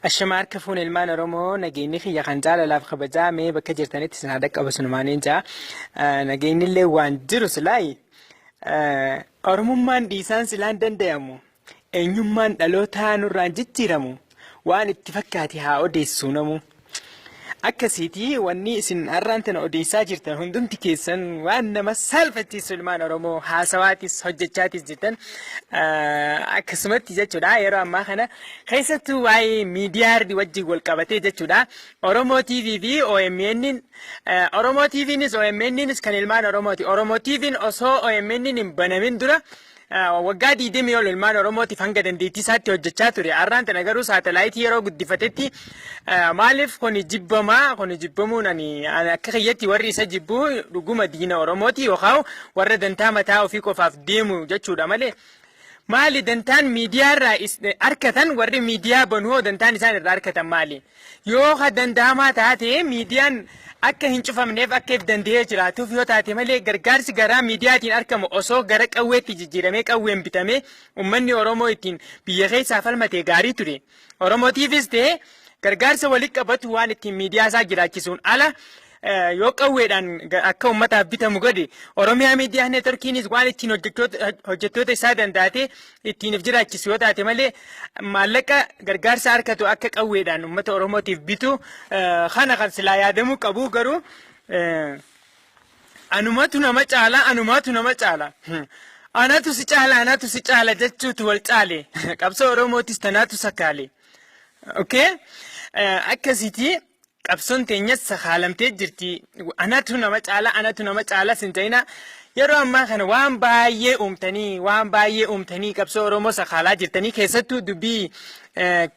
Ashama harka fuun ilmaan Oromoo nageenyi kiyya kan jaalalaaf kabajaa mee bakka jirtanitti isin haa dhaqqabu sinumaan hin ja'a. Nageenyi illee waan jiru silaayi. Oromummaan dhiisaan silaan dandayamu. Eenyummaan dhalootaa nurraan jijjiiramu. Waan itti fakkaate haa odeessuu namu. Akkasiiti wanni isin arraan tana odeessaa jirtan hundumti keessan waan nama saalfachiisu ilmaan Oromoo haasawaatis hojjechaatis jirtan akkasumatti jechuudha yeroo ammaa kana keessattuu waa'ee miidiyaarri wajjin wal qabatee jechuudha Oromoo TV fi OMN Oromoo TVnis OMNnis kan ilmaan Oromooti Oromoo TVn osoo OMN hin banamin dura Waggaa 20 ol ilmaan Oromootiif hanga dandeettii isaatti hojjechaa ture. Har'aan tana garuu saatalaayitii yeroo guddifatetti maaliif kuni jibbamaa kuni jibbamuun ani akka kiyyatti warri isa jibbu dhuguma diina Oromooti yookaan warra dantaa mataa ofii qofaaf deemu jechuudha malee maali dantaan miidiyaa irraa arkatan warri miidiyaa banu hoo dantaan isaan irraa arkatan maali? Yoo ka danda'amaa taate miidiyaan akka hin cufamneef akka if danda'ee jiraatuuf yoo taate malee gargaarsi garaa miidiyaatiin argamu osoo gara qawweetti jijjiiramee qawween bitamee ummanni Oromoo ittiin biyya keessaa falmatee gaarii ture. Oromootiifis ta'e gargaarsa walitti qabatu waan ittiin miidiyaa isaa jiraachisuun ala yoo qawweedhaan akka uummataaf bitamu godhe Oromiyaa Miidiyaa Neetworkiinis waan ittiin hojjettoota isaa dandaatee ittiin of jiraachisu yoo taate malee maallaqa gargaarsa harkatu akka qawweedhaan uummata Oromootiif bitu kana kan silaa yaadamuu qabu garuu anumatu nama caala anumatu nama caala. Anatu si caala anatu si caala jechuutu wal caale qabsoo Oromootis tanaatu sakaale. Okay? Akkasitii. qabsoon teenyas sakaalamtee jirti anatu nama caala anatu nama caalas hin ta'ina yeroo ammaa kana waan baay'ee uumtanii waan baay'ee uumtanii qabsoo oromoo sakaalaa jirtanii keessattuu dubbii eh,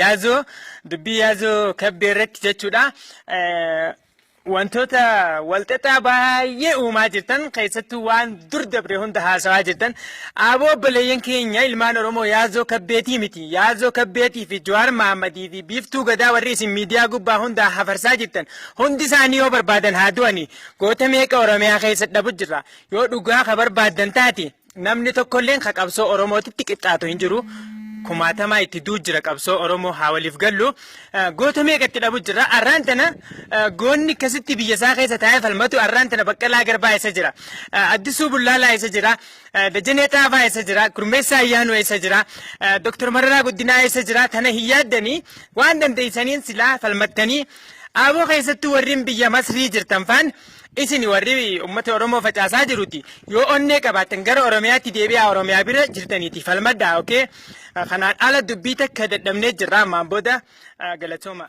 yaazoo dubbii yaazoo kabbee irratti jechuudha Eh, Wantoota walxaxaa baay'ee uumaa jirtan keessattuu waan dur dabre hunda haasawaa jirtan aboo obboleeyyan keenya ilmaan Oromoo Yaazoo Kabbeetii miti. Yaazoo Kabbeetii fi Jawaar Mahammadii fi Biiftuu Gadaa warri isin miidiyaa gubbaa hundaa hafarsaa jirtan hundi isaanii yoo barbaadan haa du'ani. Goota meeqa Oromiyaa keessa dhabu jirra. Yoo dhugaa ka barbaaddan taate Namni tokkolleen ka qabsoo Oromootitti qixxaatu hin jiru. Kumaatamaa itti du'u jira qabsoo Oromoo haa waliif gallu. Goota meeqa itti dhabu jira. Arraan tana goonni akkasitti biyya isaa keessa taa'ee falmatu arraan tana Baqqalaa Garbaa eessa jira. Addisuu Bullaalaa eessa jira. Dajanee Xaafaa eessa jira. Gurmeessaa Ayyaanuu eessa jira. Doktor Mararaa Guddinaa eessa jira. Tana hin yaaddanii waan dandeessaniin silaa falmattanii Aaboo keessattuu warreen biyya Masrii jirtan faan Isin warri ummata Oromoo facaasaa jiruti yoo onnee qabaattan gara Oromiyaatti deebi'aa Oromiyaa bira jirtaniiti falmadhaa okay? Kanaan ala dubbii takka dadhabnee jirra ammaan booda galatooma.